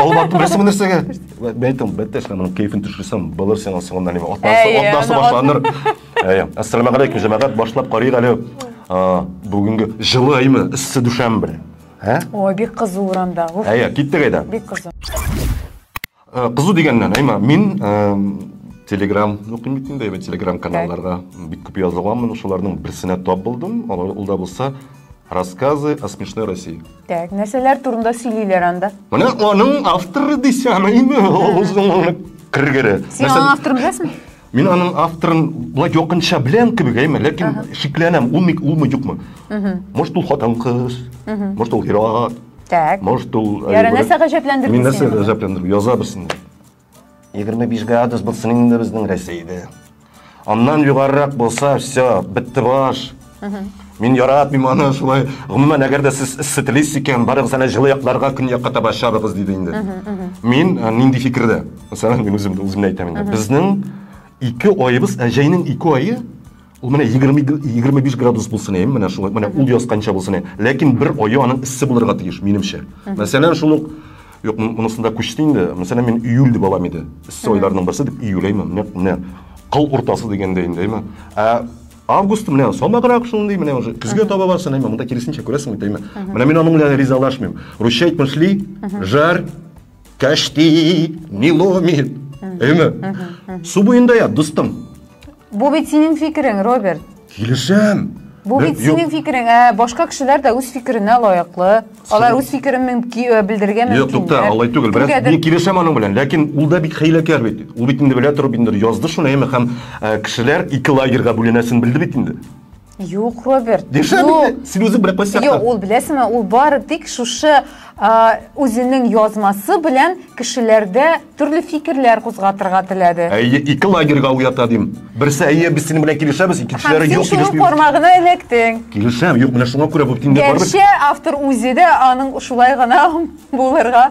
Алып бардым, нәрсә бу нәрсәгә? Мен әйттем, бәттә эшлә, моның кәефен төшерсәм, булыр сиңа соңында неме? Атасы, Әйе, атасы аны башланыр. Әйе. Ассаламу алейкум, җәмәгать, башлап карыйк әле. А, Бүгенге җылы айме, эссе дүшәмбе. Ә? Ой, бик кызу урамда. Уф, Әйе, киттек әйдә. бик кызу. Э, Кызу дигәннән, әйма, мин эм, Telegram укыйм бит инде, әйбәт Telegram каналларга бик күп язылганмын, шуларның берсенә тап булдым. Алар- Ул да булса рассказы о смешной России. Так, нәрсәләр турында сөйлиләр анда? Менә аның авторы дисәм, име, озын кергере. Син аның авторын беләсеңме? Мин аның авторын былай якынча беләм кебек, әйме, ләкин шикләнәм, ул ник улмы юкмы? Может, ул хатын кыз, может, ул ир-ат. Так. Может, ул Яра, нәрсә гаҗәпләндерде сине? Мин нәрсә гаҗәпләндерде? Яза берсен. 25 градус булсын инде безнең Рәсәйдә. Аннан югарырак булса, все, бетте баш. Мин яратмыйм аны шулай. Гомумән, әгәр дә сез эссе телисез икән, барыгыз әле җылы якларга, көньякка таба чабыгыз, диде инде. Мин э, нинди фикердә? Мәсәлән, мин үзем үземне әйтәм инде. Безнең ике аебыз, ә җәйнең ике ае Ул менә 20-25 градус булсын әйем, менә шулай, менә ул ясканча булсын әйем. Ләкин бер аю аның эссе булырга тиеш, минемчә. Мәсәлән, шул ук, юк, монысында күчте инде, мәсәлән, мин июль дип алам иде. Эссе айларның берсе дип июль әйме, менә, менә, кыл уртасы дигәндә инде әйме. Ә август менә самаграк шундый, менә уже көзгә таба барсын әйме, монда киресенчә күрәсең бит әйме. Менә мин аның белән ризалашмыйм. Русчайт мышли, жар, кәшти, не ломит. Әйме. Су буенда я, дустым. Бу бит синең фикерең, Роберт. Килешәм. Бу бит синең фикерең, ә башка кешеләр дә үз фикеренә лаеклы. Алар үз фикерен мөмкин э, белдерергә мөмкин. Юк, тукта, алай түгел. Бераз мин килешәм аның белән, ләкин ул да бик хәйләкәр бит. Ул бит инде белә торып инде язды шуны, әйме, һәм э, кешеләр ике лагерьга бүленәсен белде бит инде. Юк, Роберт. Дешәбе син үзең белән кайсы Юк, ул беләсеңме, ул бары тик шушы үзенең язмасы белән кешеләрдә төрле фикерләр кузгатырга теләде. Әйе, ике лагерьга уята дим. Берсе әйе, без синең белән килешәбез, икенчеләре юк килешми. Син кармагына эләктең. Килешәм, юк, менә шуңа күрә бу тиңдә барыбер. Гәрчә автор үзе дә аның шулай гына булырга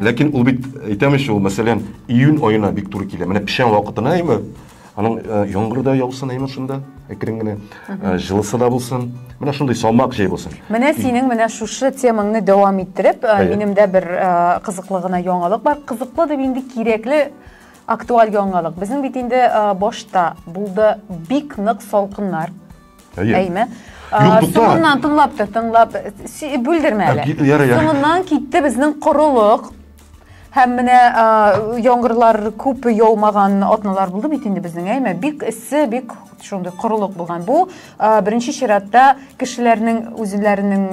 Ләкин ул бит, әйтәм ич, ул мәсәлән, июнь аена бик туры килә. Менә печән вакытына әйме, аның э, яңгыр да яусын әйме шунда, әкрен генә, э, җылысы да булсын. Менә шундый салмак җәй булсын. Менә синең менә шушы темаңны дәвам иттереп, э, Әйе. минем дә бер э, кызыклы гына яңалык бар. Кызыклы дип инде кирәкле актуаль яңалык. Безнең бит инде э, башта булды бик нык салкыннар. Әйе. Әйме? Юк, тукта. Соңыннан тыңлап тор, тыңлап. Бүлдермә әле. Ярый, ярый. Соңыннан китте безнең корылык. Һәм менә яңгырлар күп яумаган атналар булды бит инде безнең, әйме? Бик эссе, бик шундый корылык булган. Бу беренче чиратта кешеләрнең үзләренең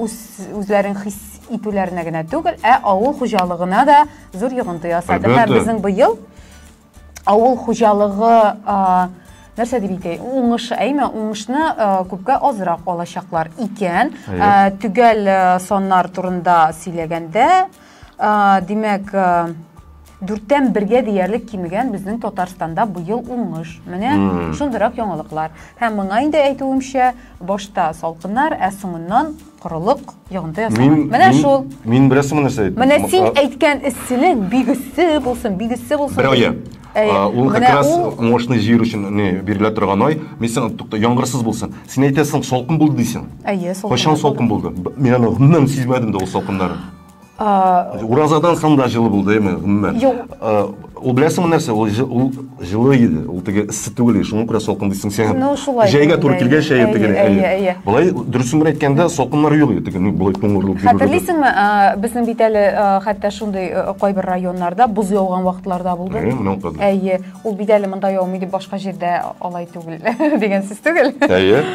үз үзләрен хис итүләренә генә түгел, ә авыл хуҗалыгына да зур йогынты ясады. Һәм безнең быел авыл хуҗалыгы нәрсә дип әйтәй уңыш әйме уңышны күпкә азрак алачаклар икән төгәл саннар турында сөйләгәндә димәк дүрттән бергә диярлек кимегән безнең татарстанда быел уңыш менә шундыйрак яңалыклар һәм моңа инде әйтүемчә башта салкыннар ә соңыннан Корылык, йогынты ясама. Мин, Менә мин, шул. Мин бераз соңгы нәрсә әйттем. Менә син әйткән эсселек бик эссе булсын, бик эссе булсын. Бер ае. Ул как раз мощный җир өчен не бирелә торган ай. Мин сиңа тукта, яңгырсыз булсын. Син әйтәсең, салкын булды дисең. Әйе, салкын. Кайчан салкын булды? Мин аны гомумән сизмәдем дә ул салкыннарны. Уразадан соң да җылы булды, әйме, гомумән. Юк. Ул беләсеңме нәрсә? Ул ул җылы иде. Ул теге эссе түгел, шуңа күрә салкын дисең син. Ну, шулай. Җәйгә туры килгән шәй теге. Әйе, әйе. Болай дөресен генә әйткәндә, салкыннар юк иде, ну, болай туңгырылып йөрү. Хәтерлисеңме, безнең бит әле хәтта шундый кайбер районнарда боз яуган вакытларда булды. Әйе, моның кызы. Әйе, ул бит әле монда яумый дип башка җирдә алай түгел дигән сүз түгел. Әйе.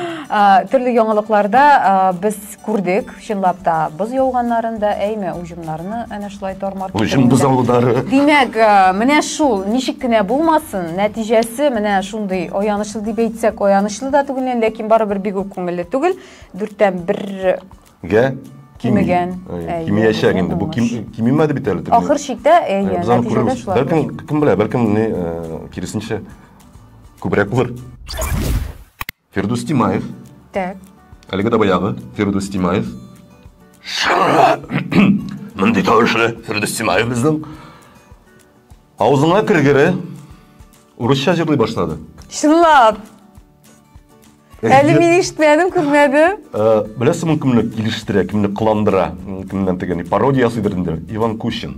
Төрле яңалыкларда без Күрдек, чынлап та, боз яуганнарын да, әйме, уҗымнарны әнә шулай тар-мар Уҗым бозаулары. Димәк, э, менә шул, ничек кенә булмасын, нәтиҗәсе менә шундый аянычлы дип әйтсәк, аянычлы да түгел, ләкин барыбер бик үк күңелле түгел. Дүрттән бер Гә? Кимегән. Кимиячәк инде. Бу кимимәде бит әле. Ахыр чиктә, э, әйе, нәтиҗәдә шулай. Бәлкем, кем белә, бәлкем, э, киресенчә, күбрәк булыр. Фирдус Тимаев. Так. Әлеге дә баягы Фирдус Тимаев. Шырра! Мондый тавышлы Фирдус Тимаев безнең. Авызыңа кергере урысча җырлый башлады. Чынлап. Әле мин ишетмәдем, күрмәдем. Э, Беләсеңме, кемне килештерә, кемне кыландыра, кемнән тегәни пародия ясыйдыр инде. Иван Кущин.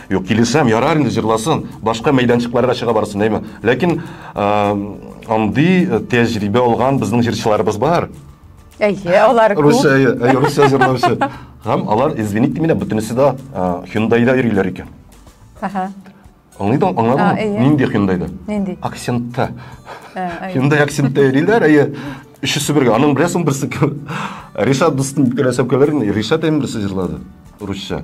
Юк, килешәм, ярар инде җырласын, башка мәйданчыкларга чыга барсын, әйме. Ләкин андый э, тәҗрибә алган безнең җырчыларыбыз бар. Әйе, алар күп. Русия, әйе, Русия җырлаучы. Һәм алар, извините меня, бөтенесе дә Hyundai-да йөриләр икән. Ага. Аңлыйда, аңладың? Э. Нинди Hyundai-да? Нинди? Акцентта. Hyundai акцентта йөриләр, әйе. Өчесе бергә. Аның беләсең берсе кем? Ришат дустым бик рәсәп көләр. Ришат әйме берсе җырлады. Русия.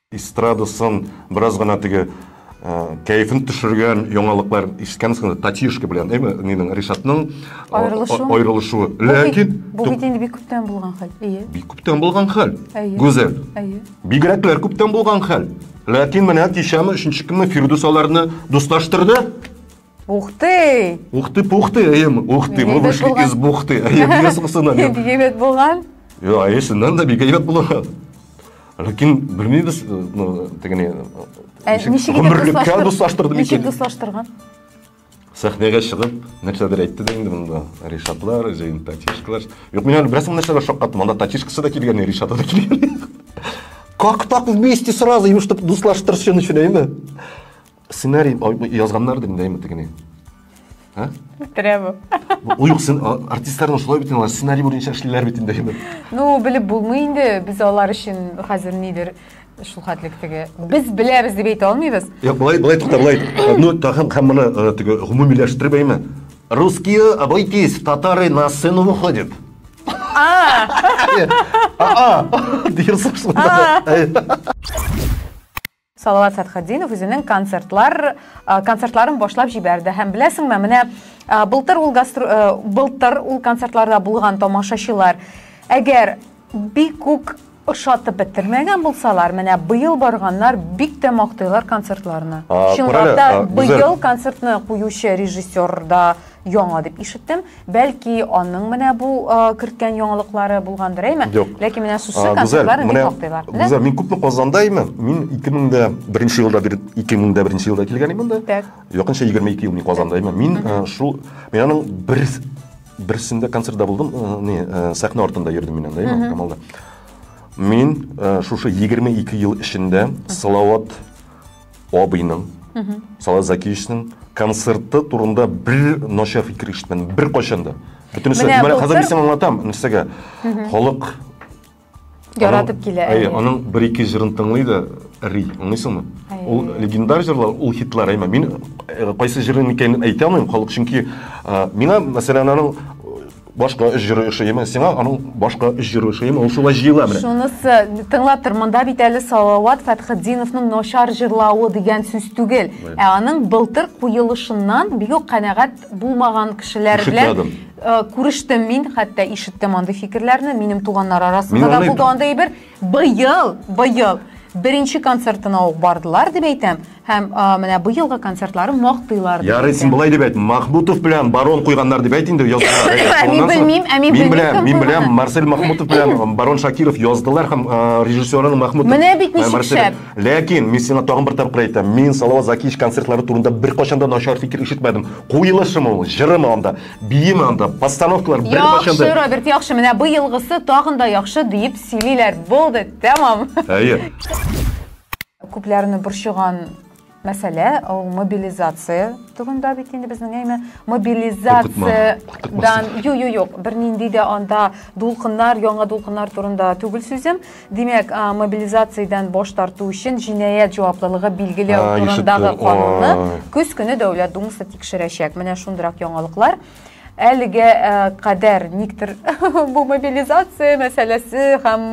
Эстрадасын бераз гына теге кәефен төшергән яңалыклар ишеткәнсеңдер татьюшка белән әйме нинең ришатның аерылышуы ләкин бу бит инде бик күптән булган хәл әйе бик күптән булган хәл гүзәл әйе бигрәкләр күптән булган хәл ләкин менә кичәме өченче көнме фирдүс аларны дуслаштырды Ух ты! Ух ты, пух ты, әйем. Ух ты, мы вышли из бухты. Әйем, не суксына. Бик әйбәт булган. Йо, әйе, синнән дә бик әйбәт булган. Ләкин белмибез, ну, тегене. Ә ничек гомерлеккә дуслаштырды микән? Ничек дуслаштырган? Сәхнәгә чыгып, нәрсәдер әйтте дә инде монда. Ришатлар, җәен татишкалар. Юк, мин әле бераз монда нәрсәгә шаккаттым. Монда татишкасы да килгән, Ришаты да килгән. Как так вместе сразу, им чтобы дуслаштырышын өчен, әйме? Сценарий язганнар дим дәйме тегене? Ә? Үтерә бу. Уюк артистларның шулай бит алар сценарий буенча эшлиләр бит инде. Ну, белеп булмый инде. Без алар өчен хәзер нидер шул хәтлек теге. Без беләбез дип әйтә алмыйбыз. Юк, былай, былай тукта, былай. Ну, тагын һәм моны э, теге гомумиләштереп әйме. Русские, обойтись, татары на сцену выходят. А! А! А! Дирсың шунда. Салават Фәтхетдинов үзенең концертлар концертларын башлап җибәрде һәм беләсеңме, менә былтыр ул гастр былтыр ул концертларда булган тамашачылар әгәр бик күк ошатып бетермәгән булсалар, менә быел барганнар бик тә мактыйлар концертларны. Чынлап та быел концертны куючы режиссер да яңа дип ишеттем. Бәлки аның менә бу керткән яңалыклары булгандыр, әйме? Юк. Ләкин менә сүзсез концертлар инде туктыйлар. Гүзәл, мин күпме Казанда әйме? Мин 2001 елда 2001 елда килгән идем монда. Так. Якынча 22 ел мин Казанда әйме. Мин шул мин аның бер берсендә концертта булдым, не, сәхнә артында йөрдем мин анда, әйме, Камалда. Мин шушы 22 ел эчендә Салават Абыйның, Салат Закиевичның концерты турында бер начар фикер ишетмәдем, бер кайчан да. Бөтенесе, Менә менә хәзер былтыр- мин сиңа аңлатам, нәрсәгә. Халык Яратып килә. Әйе, әйе. аның бер ике җырын тыңлый да ри, аңлыйсыңмы? Әйе. Ул легендар җырлар, ул хитлар, әйме. Мин э, кайсы җырын икәнен әйтә алмыйм, халык чөнки э, миңа мәсәлән аның Башка өч җыры ошыймы сиңа? Аның башка өч җыры ошыймы? Ул шулай җыела менә. Шунысы, тыңлап тор, монда бит әле Салават Фәтхетдиновның начар җырлавы дигән сүз түгел, ә аның былтыр куелышыннан бик үк канәгать булмаган кешеләр белән э, күрештем мин, хәтта ишеттем андый фикерләрне, минем туганнар арасында да булды андый әйбер. Быел, быел беренче концертына ук бардылар дип әйтәм. Һәм менә быелгы концертлары мактыйлар. Ярый, син болай дип әйт, Махмутов белән Барон куйганнар дип әйт инде, яздылар. Мин белмим, ә мин белмим. Мин беләм, мин беләм, Марсель Махмутов белән Барон Шакиров яздылар һәм режиссеры Махмутов. Менә бит ничек шәп. Ләкин мин сиңа тагын бер тапкыр әйтәм, мин Салават Закиевич концертлары турында беркайчан да начар фикер ишетмәдем. Куелышымы ул, җырымы анда, биеме анда, постановкалар беркайчан да. Яхшы, Роберт, яхшы. Менә быелгысы тагын да яхшы дип сөйлиләр. Булды, тәмам. Әйе. Күпләрне борчыган мәсьәлә ул мобилизация турында бит инде безнең әйме мобилизациядән ю ю юк бернинди дә анда дулкыннар яңа дулкыннар турында түгел сүзем димәк мобилизациядән баш тарту өчен җинаять җаваплылыгы билгеләү турындагы канунны көз көне дәүләт думасы тикшерәчәк менә шундыйрак яңалыклар әлегә кадәр никтер бу мобилизация мәсьәләсе һәм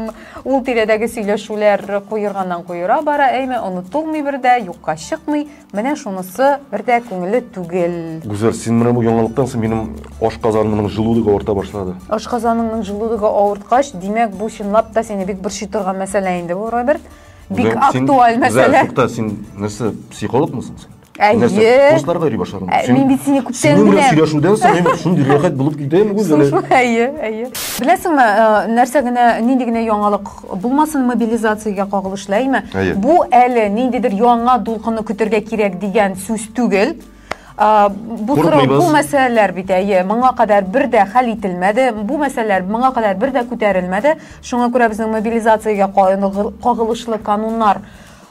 ул тирәдәге сөйләшүләр куерганнан куера бара, әйме онытылмый бер дә, юкка чыкмый. Менә шунысы бер дә күңелле түгел. Гүзәл, син менә бу яңалыктан соң минем ашказанымның җылулыгы авырта башлады. Ашказаныңның җылулыгы авырткач, димәк, бу чынлап та сине бик борчый торган мәсьәлә инде бу, Роберт. Бик актуаль мәсьәлә. Гүзәл, тукта, син нәрсә, психологмы соң син? Нәрсә? Курсларга йөри башладым. Ә, мин бит сине күптән Синең белән беләм. сөйләшүдән соң мин шундый рәхәт булып китәм гүз әле. Шушы, әйе, әйе. Беләсеңме, э, нәрсә генә, нинди генә яңалык булмасын мобилизациягә кагылышлы, әйме? Әйе. Бу әле ниндидер яңа дулкынны көтергә кирәк дигән сүз түгел. А, Бу сорау, Курыкмыйбыз. бу мәсьәләләр бит, әйе, моңа кадәр бер дә хәл ителмәде, бу мәсьәләләр моңа кадәр бер дә күтәрелмәде. Шуңа күрә безнең мобилизациягә кагылышлы кануннар